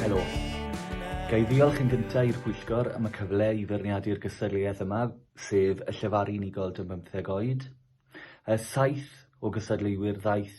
Helo. Ga i ddiolch yn gyntaf i'r pwyllgor am y cyfle i feirniadu'r gystadleuaeth yma, sef y llefaru unigol dan bymtheg oed. Saith o gystadleuwyr ddaeth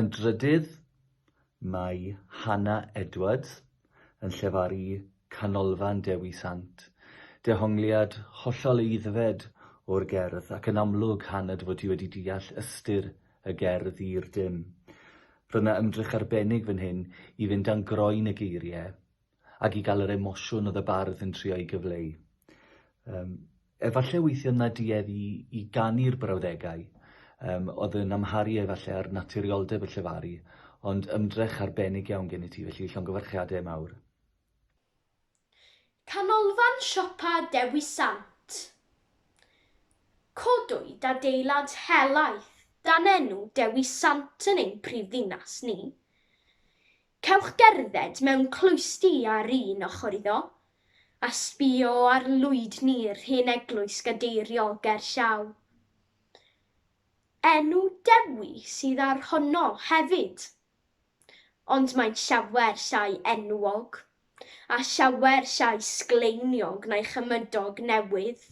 Yn drydydd, mae Hannah Edwards yn llefaru Canolfan Dewi Sant, dehongliad hollol aeddfed o'r gerdd, ac yn amlwg, Hannah, fod ti wedi deall ystyr y gerdd i'r dim. Roedd 'na ymdrech arbennig fan hyn i fynd dan groen y geiriau, ac i gael yr emosiwn oedd y bardd yn trio ei gyfleu. Um, efallai weithio na duedd i, i ganu'r brawddegau, um, oedd yn amharu efallai ar naturioldeb y llefaru, ond ymdrech arbennig iawn gen i ti, felly llongyfarchiadau mawr. Canolfan Siopa Dewi Sant. Codwyd adeilad helaeth dan enw Dewi Sant yn ein prifddinas ni. Cewch gerdded mewn cloisti ar un ochr iddo, a sbïo ar lwydni'r hen eglwys gadeiriol ger llaw. Enw Dewi sydd ar honno hefyd! Ond mae'n llawer llai enwog, a llawer llai sgleiniog na'i chymydog newydd.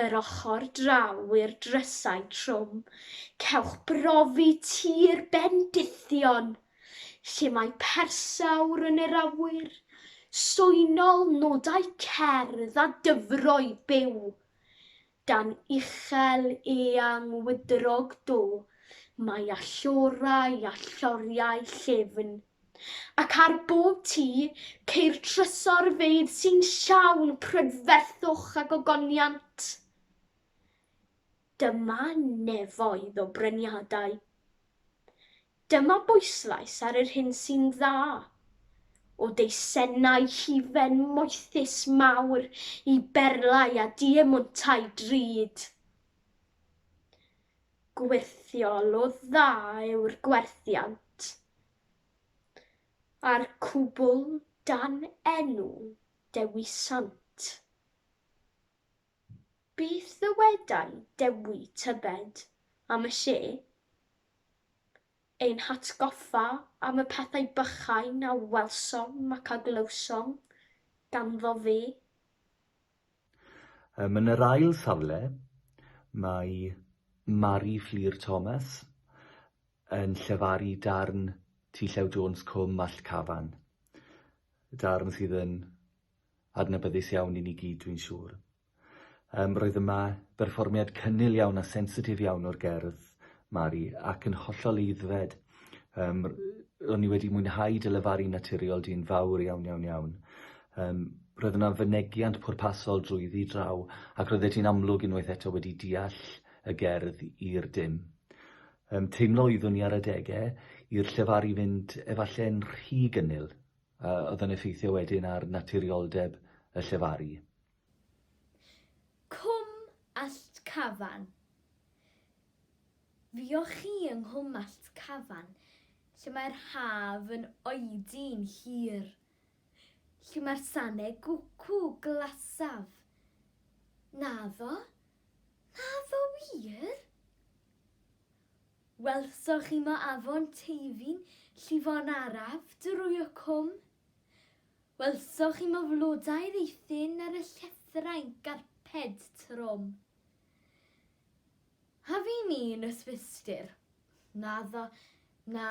yr ochr draw i'r drysau trwm, cewch brofi tir bendithion, lle mae persawr yn yr awyr, swynol, nodau cerdd a dyfroi byw. Dan uchel eang wydrog do, mae allorau a lloriau llefn. Ac ar bob tu, ceir trysorfeydd sy'n llawn prydferthwch a gogoniant. Dyma nefoedd o bryniadau. Dyma bwyslais ar yr hyn sy'n dda, o deisennau hufen moethus mawr i berlau a diemwntau drud. Gwyrthiol o dda yw'r gwerthiant, a'r cwbl dan enw dewisant. Beth ddywedai Dewi tybed am y lle? Ein hatgoffa am y pethau bychain a welsom ac a glywsom ganddo fe. Yym yn yr ail safle, mae Mari Fflur Thomas yn llefaru darn T Llew Jones Cwm Mallt Cafan, darn sydd yn adnabyddus iawn i ni gyd dwi'n siŵr. Yym roedd yma berfformiad cynnil iawn a sensitif iawn o'r gerdd, Mari, ac yn hollol eiddfed. Yym r- yy o'n i wedi mwynhau dy lefaru naturiol di'n fawr iawn iawn iawn. Yym roedd yna fynegiant pwrpasol drwyddi draw ac roeddet ti'n amlwg unwaith eto wedi deall y gerdd i'r dim. Yym teimlo oeddwn i ar adege i'r llefaru fynd efalle'n rhy gynnil a oedd yn effeithio wedyn ar naturioldeb y llefaru. Cwm Allt Cafan. Fuoch chi yng nghwmalt Cafan lle mae'r haf yn oedi'n hir, lle mae'r sane gwcw glasaf, naddo? Naddo wir? Welsoch chi mo afon Teifi'n llifo'n araf drwy y cwm? Welsoch chi mo flodau'r eithin ar y llethrau'n garped trwm? A fi'n un o Swistir. Naddo, na,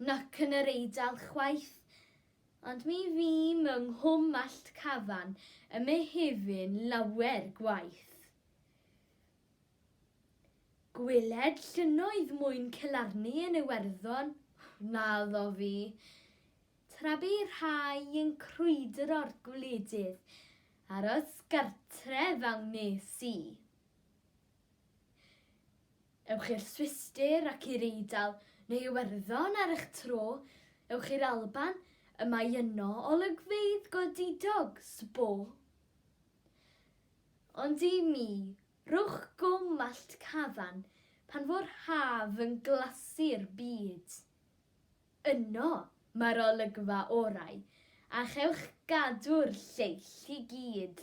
nac yn yr Eidal chwaith. Ond mi fîm yng Nghwm Allt Cafan ym Mehefin lawer gwaith. Gweled llynnoedd mwyn celarni yn Iwerddon? Naddo fi. Tra bu rhai yn crwydro'r gwledydd, aros gartref a wnes i. Ewch i'r Swistir ac i'r Eidal, neu Iwerddon ar eich tro, ewch i'r Alban, y mae yno olygfeydd godidog, sbo. Ond i mi, rhowch gwm allt cafan pan fo'r haf yn glasu'r byd. Yno mae'r olygfa orau, a chewch gadw'r lleill i gyd.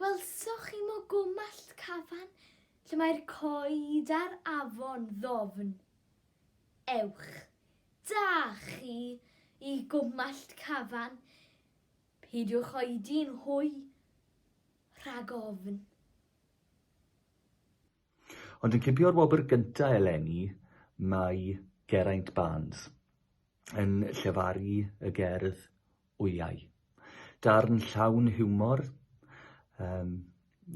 Welsoch chi mogomall Cafan lle mae'r coed a'r afon ddofn? Ewch da chi i Gwmmallt Cafan, peidiwch oedi'n hwy rhag ofn. Ond yn cipio'r wobr gyntaf eleni mae Geraint Barnes yn llefaru y gerdd Wyau. Darn llawn hiwmor, um,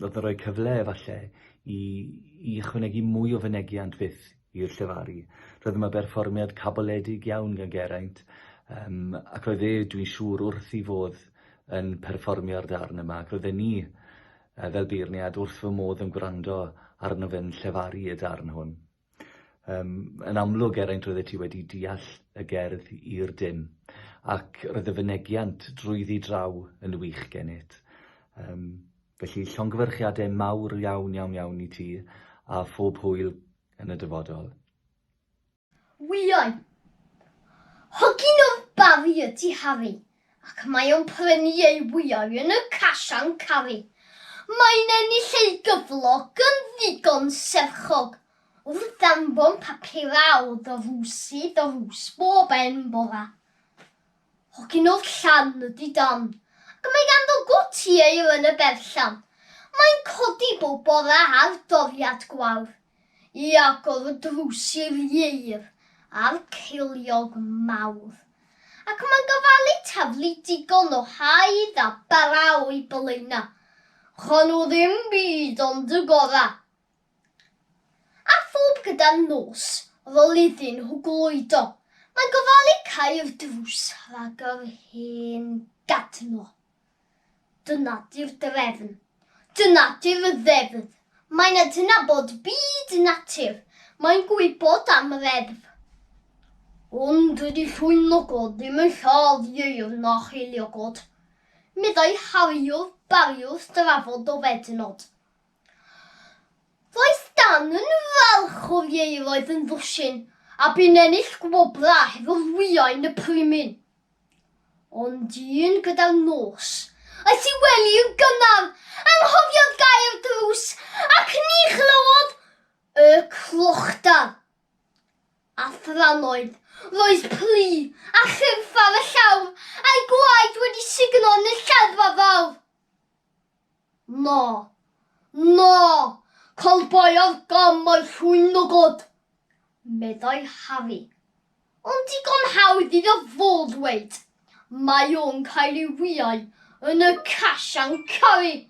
oedd yn rhoi cyfle efallai i, i ychwanegu mwy o fynegiant fyth i'r llefaru. Roedd yma berfformiad caboledig iawn gan Geraint, um, ac roedd e, dwi'n siŵr, wrth i fodd yn perfformio'r darn yma, ac roedden ni fel beirniad wrth fy modd yn gwrando arno fe'n llefaru y darn hwn. Um, yn amlwg, Geraint, roeddet ti wedi deall y gerdd i'r dim, ac roedd y fynegiant drwyddi draw yn wych gennyt. Um, felly, llongyfarchiadau mawr iawn, iawn, iawn i ti, a phob hwyl yn y dyfodol. Wyau. Hogyn o'r Barri ydy Harri, ac mae o'n prynu ei wyau yn y Cash and Carry. Mae'n ennill ei gyflog yn ddigon serchog wrth anfon papurau o ddrws i ddrws bob hen bora. Hogyn o'r Llan ydy Dan, ac mae ganddo gwt ieir yn y berllan. Mae'n codi bob bora ar doriad gwawr. I agor y drws i'r ieir a'r ceiliog mawr. Ac mae'n gofalu taflu digon o haidd a bara o'i bylena. Rho nhw ddim byd ond y gorau. A phob gyda nos, rol iddyn nhw gloedo, mae'n gofalu cau'r drws rhag yr hen gadno. Dyna 'di'r drefn. Dyna 'di'r ddeddf. Mae'n adnabod byd natur. Mae'n gwybod am reddf. Ond dydy llwyn logod ddim yn lladd ieir na cheiliogod, meddai Hariwr Barri wrth drafod dofednod. Roedd Stan yn falch o'r ieir oedd yn ddwsin a bu'n ennill gwobrau hefo wyau yn y primin. Ond dyn gyda'r nos. Aeth i wely yn gynnar, anghofiodd gau'r drws, ac ni chlywodd y clochdar. A thrannoedd, roedd plu a chyrff ar y llawr, a'i gwaed wedi sugno yn y lladdfa fawr. Na. Na! Colbaodd gam o'i llwyn o god, meddai Harri. Ond digon hawdd iddo fo ddweud, Mae o'n cael ei wyau yn y Cash and Carry!